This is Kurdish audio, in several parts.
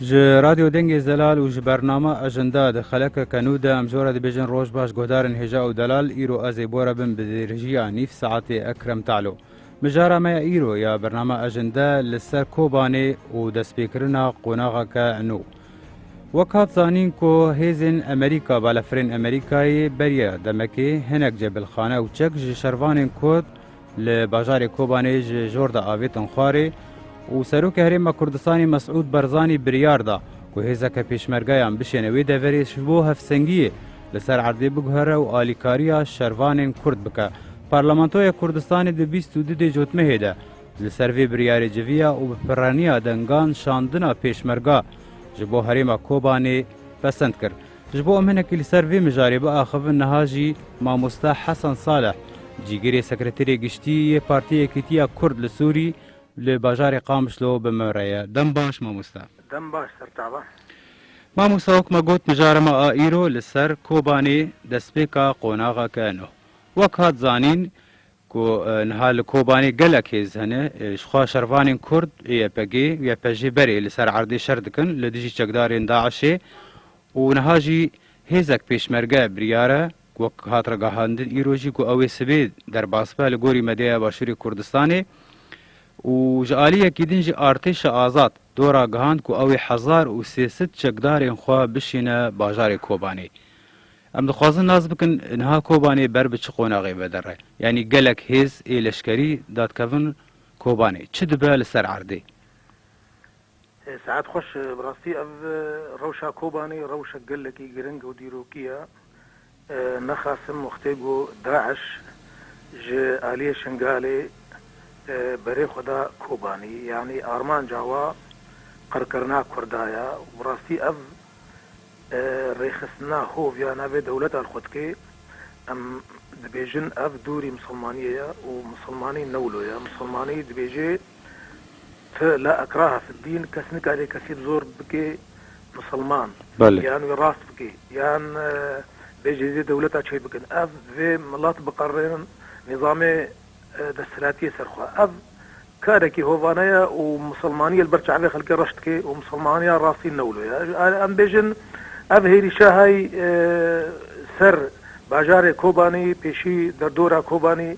Ji Radyo Dengê Zelal û ji bernama Ejinda di xeleke kenû de em jora dibêjin roj baş guhdarên hêja û delal îro ez ê bore bin bi dêrijiya nîv saetê Ekrem Talo. Mijara me ya îro ya bername Ajende li ser Kobanê û destpêkirina qonaxeke nû. Wek hat zanîn ku hêzên Amerîka balafirên Amerîkayê beriya demekê hinek cebilxane û çek ji şervanên Kurd li bajarê Kobanê ji jor de avêtin xwarê û Serokê Herêma Kurdistanê Mesûd Barzanî biryar da ku hêzeke pêşmergeyan bişêne wê deverê ji bo hevsengiyê Li ser erdê biguhere û alîkariya şervanên Kurd bike. Parlamentoya Kurdistanê di bîst û du dê cotmehê de li ser vê biryarê civiya û bi pirreniya dengan şandina pêşmerga ji bo herêma Kobanê pesend kir. Ji bo em hinekî li ser vê mijarê biaxivin niha jî mamoste Hesen Saleh, cîgirê sekreterê giştî yê Partê Yekîtiya Kurd li Sûrî li bajarê Qamişlo bi me re ye. Dem baş mamoste. Dem baş sertava. Mamosta wek me got mijara me a îro li ser Kobanê destpêka qonaxa ke no. Wek hat zanîn ku niha li Kobanê gelek hêz hene ji xwe şervanên Kurd ê YPG û YPJ'ê berê li ser erdê şer dikin li dijî çekdarên DAIŞ'ê û niha jî hêzek pêşmerge biryare Wek hat ragihandin îro jî ku ew ê sibê derbas be li gorî medyaya Başûrê Kurdistanê û ji alî yekî din jî Artêşa Azad do ragihand ku ew ê hezar û sê sed çekdarên xwe bişîne bajarê Kobanê. Em dixwazin nas bikin niha Kobanê ber bi çi qonaxê ve der e. Yanî gelek hêz ê leşkerî dadkevin Kobanê. Çi dibe li ser erdê? Saet xweş, bi rastî ev rewşa Kobanê rewşek gelekî giring û dîrokî ye. Nexasim wextê ku DAIŞ ji aliyê Şingalê berê xwe da Kobanî, yanî armanca we qirkirina Kurda ye û bi rastî ev rêxistina hov ya navê dewleta li xwe dike. Em dibêjin ev dûrî misilmaniyê ye û misilmanî ne wilo ye. Misilmanî dibêje. Ti la ikraha fi dîn kes nikare kesî bi zor bike musilman Belê. yan wî rast bike yan bê cizye dewleta çê bikin. Ev vê milat biqerrînin nîzamê desthilatiyê ser xwe. Ev karekî hovane ye û musilmaniyê li ber çavê xelkê reş dike û musilmaniya rastî newlo ye. Arê em bêjin ev hêrîşa hay ser bajarê Kobanî pêşî derdora Kobanî,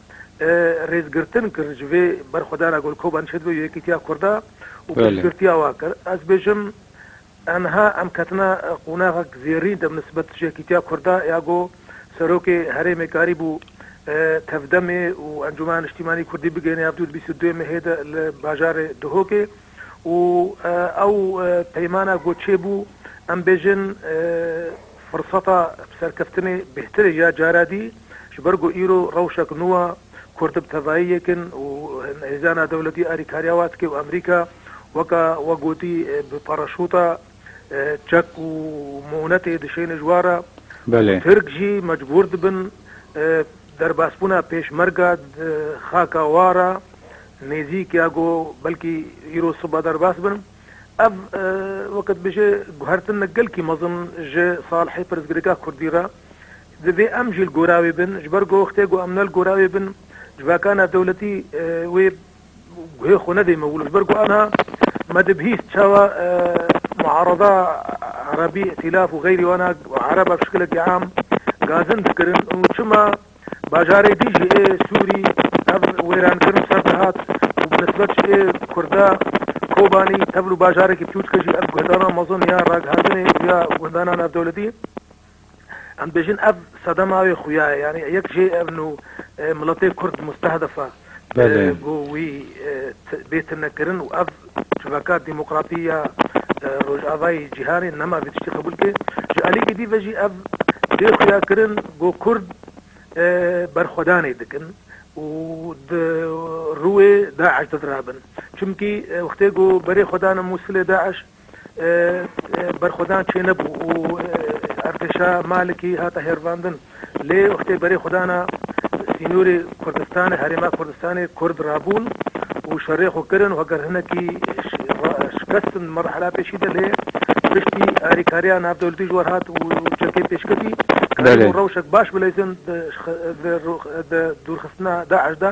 rêzgirtin kir ji vê berxwedana gul Koban Çetbe û Yekîtiya Kurda û piştgirtiya wan kir. Ez bêjim enha em ketina qonaxek zêrîn de bi nisbet ji Yekîtiya Kurda ya ku Serokê herêmê karîbû tevdemê û Encûmena Niştîmanî Kurdî bigihîne ya bi dû li bîst û duyê mehê de li bajarê Duhokê û ew peymana ku çêbû em bêjin Firseta serkeftinê bêhtir e ya cara dî, ji ber ku îro rewşek nû a, Kurd bi tevayî yek in û hêzan a dewletî alîkariya wan dike û Amerîka weka we gotî bi paraşûta çek û mûnetê dişêne ji wan re. Tirk jî mecbûr dibin derbasbûna pêşmerga di xaka wan re nêzîk ya ku belkî îro sibe derbas bin. Ev, weke dibêje guhertin ne gelkî mezin ji Salihê pirsgirêka kurdî re. Divê em jî li gora wê bin. Ji ber ku wextê ku em ne li gora wê bin, civaka navdewletî wê guhê xwe nedê me wilo. Ji ber ku aniha me dibihîst çawa muarada erebî, îtîlaf û xeyrî û aniha ereb ev şikilekî am gazin dikirin û çima, Bajarê dî ji ê Sûrî tevl wêrankirin ser dihat û bi nisbet ji ê Kurda Kobanî tevl û bajarekî biçûçik e jî ev guhdanan mezin ya ragihandinê û ya gundana navdewletî em dibêjin ev sedema wê xuya ye yanî yek jê ev nû miletê Kurd mustehdef e. ku wî bê tune kirin û ev civaka demokratî ya Rojavayê Cîhanê nema vê tiştî qebûl bike. Ji aliyekî dî ve jî ev bê xuya kirin ku Kurd berxwedanê dikin û di rûê DAIŞ de dirabin. Çimkî wextê ku berê xwe dane Mûsilê DAIŞ Berxwedan çênebû û Erdêşa Malikî hate hêrvandin. Lê wextê berê xwedana sînorê Kurdistanê, Herêma Kurdistanê Kurd rabûn û şerê xwe kirin û heger hinekî şikestin di merhela pêşî de lê piştî alîkariya navdewletî ji wer hat û çekê pêşketî, karîbûn rewşek baş bileyzin di dûrxistina DAIŞ de.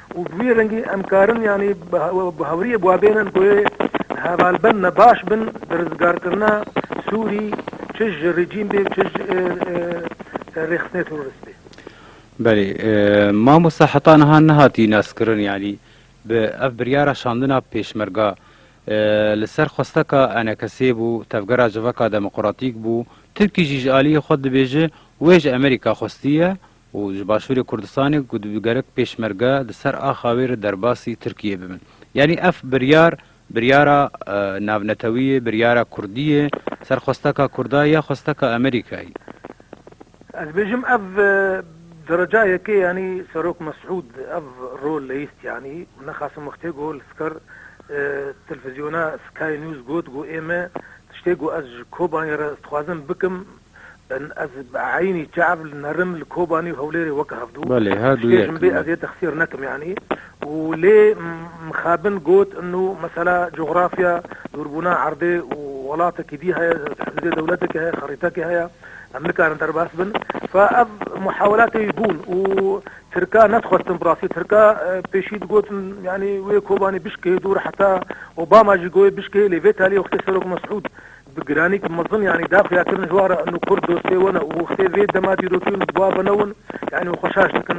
Û bi wî rengî em karin yanî bi hawriyê bi wa bênin ku ê hevalbend me baş bin di rizgarkirina Sûrî çi ji rejîm bê çi ji rêxistinê terorist bê. Belê. Mamosta heta niha nehatiye naskirin yanî bi ev biryara şandina pêşmerga li ser xwesteka enekesê bû, tevgera civaka demoqratîk bû, tirkî jî ji aliyê xwe dibêje wê ji Amerîka xwestiye û ji Başûrê Kurdistanê ku dibû gerek pêşmerge di ser axa wê re derbasî Tirkiyeyê bibin. Yanî ev biryar biryara navnetewî yê, biryara kurdî yê, ser xwesteka kurda ya xwesteka Amerîkayê? Ez dibêjim ev derecayekê yanî Serok Mesûd ev rol leyîst yanî û nexasim wextê ku li ser telvizyona Sky News got ku ême tiştê ku ez ji Kobanê re dixwazim bikim Ben ez bi eynî çav li nerim li Kobanî û Hewlêrê weke hevdû tiştê ji min bê ez yê te xsêr nekim yanî û lê mixabin got inu mesela cografya dûrbûna erdê û welatekî dî heye hizbê dewletekî heye xerîtekî heye em nikarin derbas bin fa ev muhawelatê wî bûn û tirka nedixwestin bi rastî tirka pêşî digotin yanî wê Kobanî bişkihê dûr heta Obama jî goyê bişkihê lê vê talî wextê Serok Mesûd Bi giranîk mezin yanî daxuya kirin ji wan re û kurd dostê wan e û wextê vê dema dîrokî û nûtba beno wan yanî û xweşaş dikin.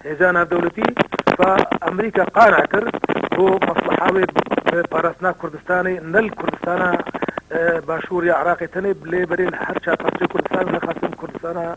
Hêza Navdewletî va Amerîka qane kir ku mesleha wê bi parastina Kurdistanê ne li Kurdistana Başûr ya Iraqê tenê lê berê li her çar parçeyê Kurdistanê, nexasim Kurdistana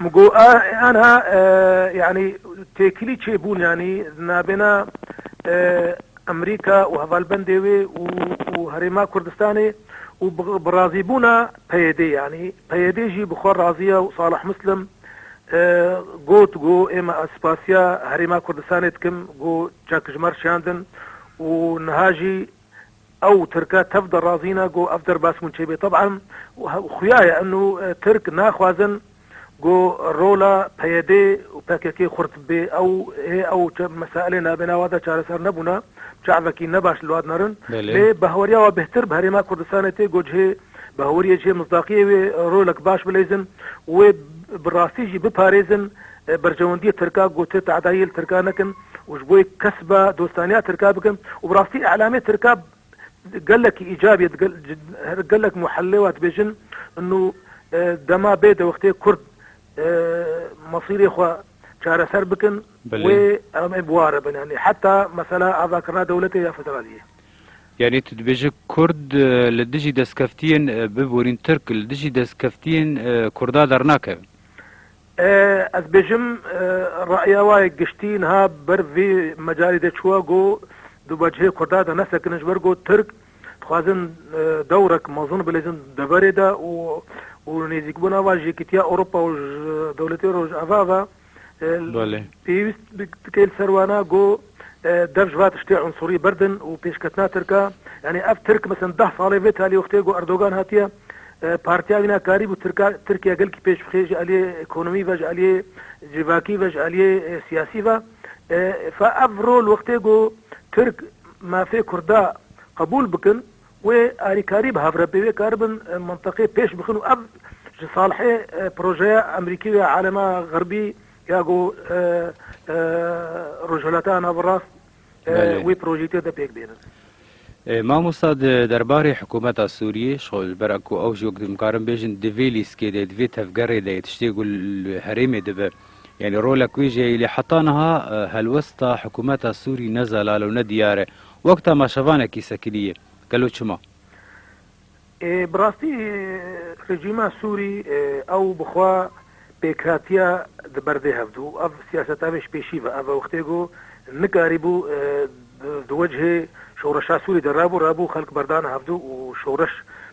Min got, Anha yanî têkilî çêbûn yanî di navbêna Amerîka û hevalbendê wê û û Herêma Kurdistanê û bi bi razîbûna PYDê yanî PYD jî bi xwe razî ye û Salih Muslim got, Got, Êma ez spasiya Herêma Kurdistanê dikim got çekijmar şiyandin û niha jî Ew Tirke tev de razî ne ku ev derbas hûn çêbê. Teb'an xuya ye eno Tirk naxwazin ku rola PYD û pkk xurt bê. Ew hê ew mesailê navbênawa de çareser nebûne, çavekî ne baş li wad nerin. Lê bi hawariya wa bêhtir bi herêma Kurdistanê tê ku cihê bi hawiriyê cihê misdaqiyê wê rolek baş bileyzin û wê bi rastî jî biparêzin. Berjewendiyê Tirka gote tehdayê li Tirka nekin û ji bo yê kesba dostaniya Tirka bikin û bi rastî îlamê Tirka gelekî îcab ye her gelek muhellê wa dibêjin nu dema bê dewextê kurd masîrê xwe çareser bikin wê em ê bi ware bin yanî heta mesela avakirina dewletê ya federaliyê. Yanî tu dibêje kurd li dijî destkeftiyên biborîn Tirk li dijî destkeftiyên kurda dernakeve? Ez bêjim re'ya wa yê giştî niha ber vî mecalî de çûwa ku di wecihê Kurda de nesekinin ji ber ku Tirk dixwazin dewrek mezin bilezin deverê de û û nêzîkbûna wan ji Yekîtiya Ewropa û ji dewletên Rojava ve pêwîst dike li ser wan e ku Dev ji va tiştê unsurî berdin û pêşketina Tirka, yanî ev Tirk misin deh salê vê talî wextê ku Erdogan hatiye partiya wî ne karîbû Tirka Tirkiye gelkî pêş bixê ji aliyê ekonomî ve, ji aliyê civakî ve, ji aliyê siyasî ve. Fa ev rol wextê ku Tirk mafê Kurda qebûl bikin wê alîkarî bi hev re pêvê karibin mintiqê pêş bixin û ev ji salhê projeya Emerîkî ve alema xerbî Ya ku Rojhilata Navrast wê projeyîtê de pêk bênin. Mamosta di derbarê hikumeta Sûriyê ji ber ku ew jî wek dimkarin bêjin di vê lîskê de, di vê tevgerê de ye, tiştê ku li herêmê dibe. Yanî rolek wê jî heye lê heta niha helwesta hikumeta Sûrî ne zelal û ne diyar e. Wek temaşevanekî sekinî ye. Gelo çima? Bi rastî rejîma Sûrî ew bi xwe pêkhatiya di ber vê hevdu û ev siyaseta wê ji pêşî ve. Ev wextê ku nikarîbû di wecihê şoreşa Sûrî de rabû, rabû xelk berdana hevdu û şoreş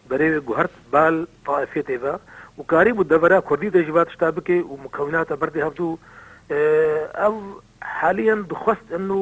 bi rê wê guhert bal taifiyetê ve û karîbû devera Kurdî de jî va tişta bike û mukewinata berdê hevdu. Ev haliyan dixwest in û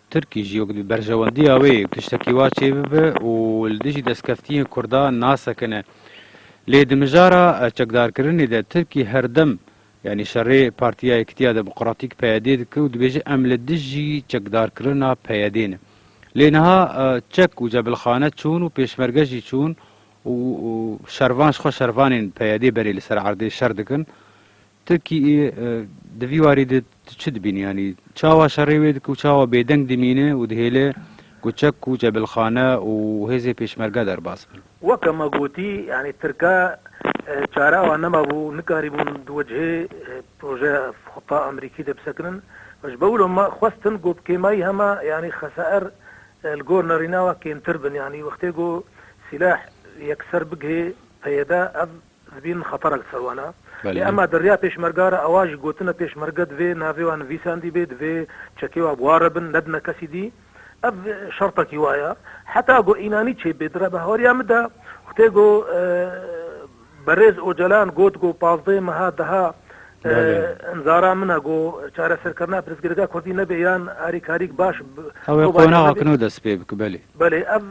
Tirkî jî wek di berjewendiya wê tiştekî wa çêbibe û li dijî destkeftiyên Kurdan nasekine. Lê di mijara çekdarkirinê de Tirkî herdem yanî şerê Partiya Yekitiya Demokratîk PYD'ê dike û dibêje em li dijî çekdarkirina PYD'ê ne. Lê niha çek û cebilxane çûn û pêşmerge jî çûn û şervan ji xwe şervanên PYD'ê berê li ser erdê şer dikin. Tirkî di vî warî de tu çi dibînî yanî çawa şerê wê dike û çawa bêdeng dimîne û dihêle ku çek û cebilxane û hêzê pêşmerge derbas bin? Weke me gotî yanî tirke çare wan nemabû nikarîbûn di wecihê projeya Fata Amerîkî de bisekinin û ji bewilo me xwestin ku bi kêmayî heme yanî xesaer li gor nerîna we kêmtir bin yanî wextê ku sîleh yekser bigihê peyede ev Zibîn xeterek li ser wan e. Lê ema di riya pêşmerga re ewa ji gotina pêşmerge divê navê wan nivîsandî bê, divê çekê wan bi wan re bin, nebine kesî dî. Ev şertekî wa ye. Heta ku înanî çê bê dire bi hawariya min de ku tê ku Berêz Ocalan got ku pazdeh meha deha imzara min e ku çareserkirina pirsgirêka kurdî nebê yan alîkarîk baş Ew ê qonaxa kino dest pê bike belê. Belê ev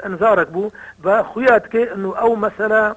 imzarek bû ve xuya dike û ew mesela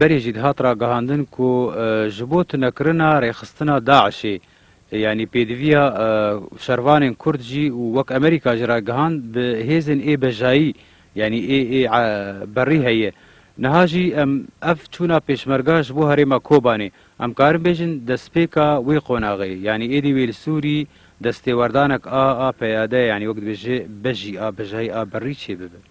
Berê jî dihat ragihandin ku ji bo tunekirina rêxistina DAIŞ'ê yanî pêdiviya şervanên Kurd jî û wek Amerîka jî ragihand bi hêzên ê bejayî yanî ê ê berî heye. Niha jî em ev çûna pêşmerga ji bo herêma Kobanê em karin bêjin destpêka wê qonaxê yanî êdî wê li Sûrî destêwerdanek a a peyade yanî wek dibêje bejî a bejayî a berî çêbibe.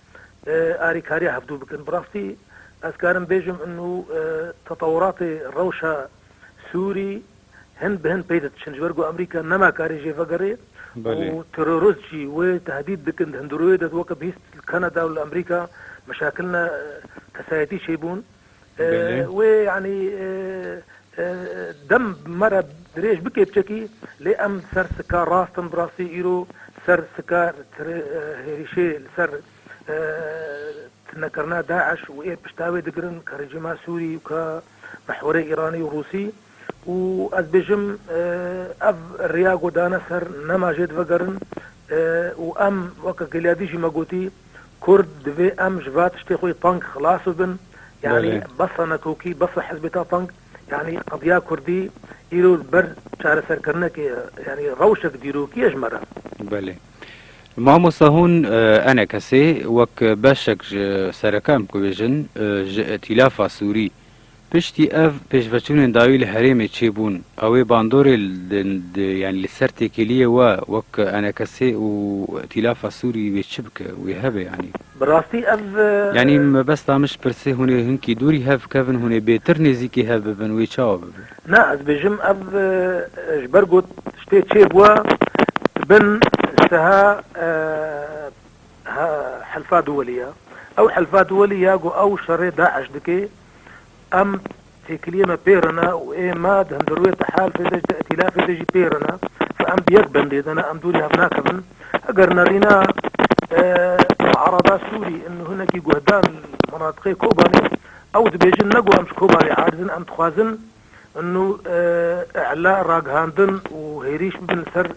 arîkariya hevdû bikin. Bi rastî ez karim bêjim inu tetewuratê rewşa Sûrî hin bi hin pey didiçin. Ji ber ku Amerîka nema karê jê vegerê û terorist jî wê tehdît dikin. Di hundirûyê de weke bihîst li Kanada û li Amerîka meşakil ne kesayetî çêbûn. Wê yanî dem bi me re dirêj bike biçekî lê em li ser sika rast in bi rastî îro li ser sika hêrişê li ser tunekirina DAIŞ û ê pişta wê digirin ka rejîma Sûrî û ka mihwerê Îranî û Rûsî Û ez bêjim ev riya ku dane ser nema jê divegerin û em weke Gilyadî jî me gotî Kurd divê em ji va tiştê xwe pang xilas bibin yanî besa nekokî besa hizbê ta pang yanî qediya Kurdî îro li ber çareserkirinekê yanî rewşek dîrokî ye ji me re. Belê. Mamosta hûn ene kesê wek beşek ji sereke em ku bêjin ji îtîlafa sûrî Piştî ev pêşveçûnên dayî li herêmê çêbûn, ew ê bandorê li li ser têkiliyê we wek enekesê û îtîlafa sûrî wê çi bike, wê hebe yanî. Bi rastî ev. Yanî mebesta min ji pirsê hûn ê hinkî dûrî hev bikevin, hûn ê bêtir nêzîkî hev bibin, wê çawa bibe? Na, ez bêjim ev ji ber ku tiştê çêbûe di bin şteha helifa duwelî ye. Ew helifa duwelî ya ku ew şerê DAIŞ dike Em têkiliyê me pêr in e û ê me di hundirûyê, di helfê de jî, di îtîlafê de jî pêr in e. Ji em bi yek bendê de ne, em dûrî hev nakevin. Eger nerîne muarada Sûrî in hinekî guhdan li minatiqê Kobanê, ew dibêjin ne ku em ji Kobanê aciz in, em dixwazin nu îla, ragihandin û hêrîş bibin li ser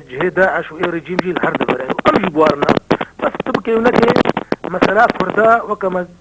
cihê DAIŞ û ê rejîm jî li her deverê ye û em jî bi wan in e. Bes tu bikê û nekê, mesela Kurda weke me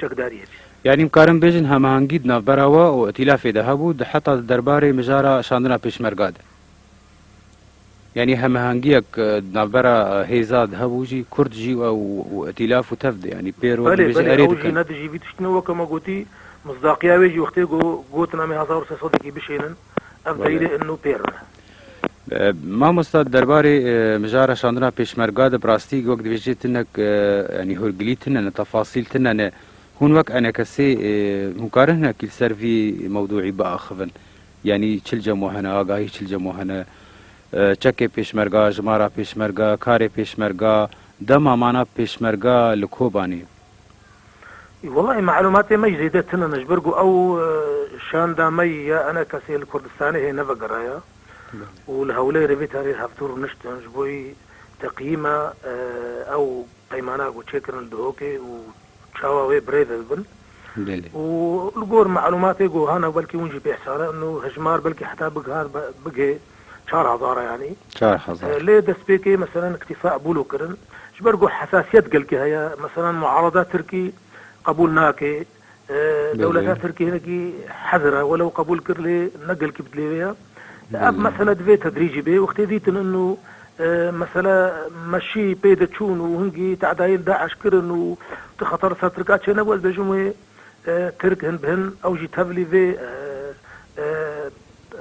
çekdariyê bî. Yanî em karin bêjin hemahengî di navbera we û îtîlafê de hebû di heta di derbarê mijara şandina pêşmerga de. Yanî hemahengiyek di navbera hêza di hebû jî kurd jî ew û îtîlaf û tevdi yanî pêr we Belê dibêje belê erê ew jî dikin. ne dijî vî tiştî ne weke me gotî, misdaqiya wê jî wextê ku gotin em ê hezar û sê sedekî bişênin. Ev deyrê innu pêr in. Mamosta derbarê mijara şandina pêşmerga de bi rastî wek dibêjê tinek yanî hûrgilî tune ne, tefasîl tune ne. Hûn wek enekesê hûn karin hinek li ser vî mewdûî biaxivin? Yanî çil cemo hene, agahî çil cemo hene? Çekê pêşmerga, jimara pêşmerga, karê pêşmerga, dema mana pêşmerga li Kobanê? Walayi malumatê me jî zêde tune ne ji ber ku ew şanda me yî ye ene kesê li Kurdistanê hê nevegeraye û li Hewlêrê vê tarîx hevdû rûniştin ji bo yî teqiyî me ew peymana ku çêkirin li Dihokê û çawa wê birêve bibin û li gor malumatê ku hene belkî hûn jî pêhsane in û hejmar belkî heta bigihand bigihê. çar hezar e yanî. Çar hezar. Lê destpêkê meselen îktîfa qebûl û kirin. Ji ber ku hesasiyet gelkî heye. Meselen muarada tirkî qebûl nake. Dewleta tirkî hinekî hezir e. Welew qebûl kir lê ne gelkî bi dilê wê ye. Ev mesele divê tedrîcî bê. Wextê dîtin û mesele meşî pê de çûn û hingî teadayên DAIŞ kirin û tu xeter li ser tirkan çênebû ez bêjim wê Tirk hin bi hin ew jî tevlî vê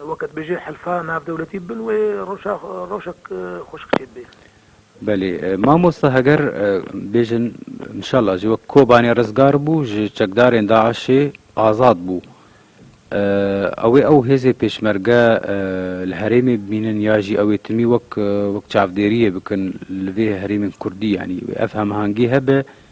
weke dibêje hilfa navdewletî bin wê rewşa rewşek xweşik çêdibe. Belê mamosta heger bêjin inşallah jî wek Kobanê rizgar bû ji çekdarên DAIŞê azad bû ew ê ew hêzê pêşmerge li herêmê bimînin ya jî ew ê timî wek wek çavdêriyê bikin li vê herêmên kurdî yanî ev hemahengî hebe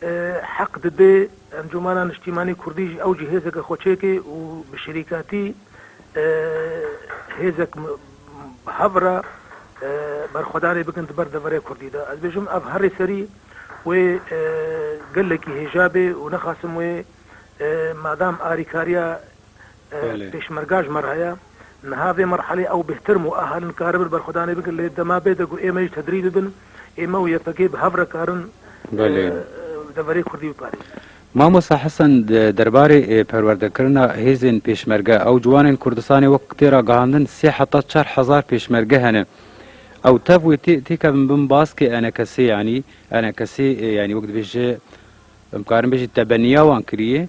Heq dide Encûmena Niştîmanî Kurdî jî ew jî hêzeke xwe çêke û bi şerîkatî hêzek bi hev re berxwedanê bikin di ber deverê Kurdî de. Ez bêjim ev herî serî wê gelekî hêja bê û nexasim wê madam arîkariya Pêşmerga ji me re heye. Niha vê merhelê ew bêhtirm û ahalin karibir berxwedanê bikin lê dema bêde ku ême jî tedrîc bibin, ême û YPG bi hev re karin deverê Kurdî biparêzin. Mamosta Hesen derbarê perwerdekirina hêzên pêşmerge, ew ciwanên Kurdistanê wek tê ragihandin sê heta çar hezar pêşmerge hene. Ew tev wê têkevin bin baskê enekesê yanî enekesê yanî wek dibêje em karin bêjin tebeniya wan kirîye.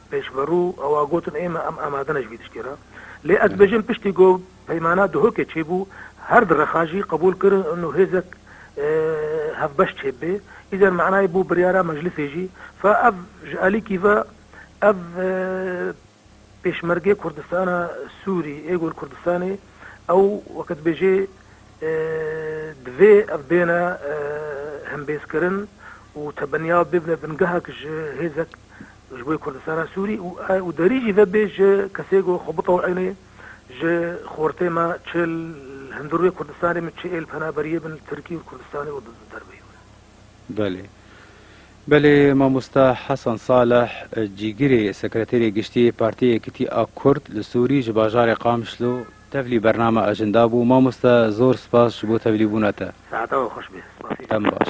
Pêşverû awa gotin ême em amade ne ji vî tiştê re. Lê ez dibêjim piştî ku peymana Duhokê çêbû her di rexa jî qebûl kir nu hêzek hevbeş çêb bê. Îzer manayê bû biryara meclisê jî. Fa ev ji alîkî ve ev pêşmergê Kurdistana Sûrî ê ku li Kurdistanê ew weke dibêjê divê ev bêne hembêzkirin û tebenya bibne bingehek ji hêzek Ji bo Kurdistana Sûrî û derî jî vebê ji kesê ku xwe bitewînê ji xortê me çê li hundir wê Kurdistanê min çê ê li penaberiyê bin li Tirkî û li Kurdistanê û di derveyî wê. Belê. Belê mamosta Hasan Saleh Cîgirê Sekreterê Giştî yê Partiyê Yekîtî a Kurd li Sûrî ji bajarê Qamişlo tevlî bername acinda bû. Mamosta zor spas ji bo tevlîbûna te. Saeta we xweş be. Spasî. Dem baş.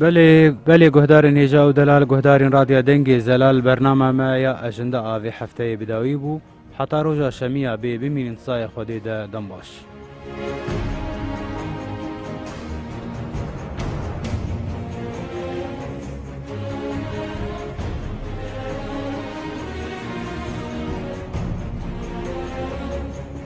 Belê belê guhdarên hêja û delal guhdarên Radya Dengê Zelal bernama me ya Ejinda a vê hefteyê bi dawî bû. Heta roja şemiya bê bimînin tisayê Xwedê de dem baş.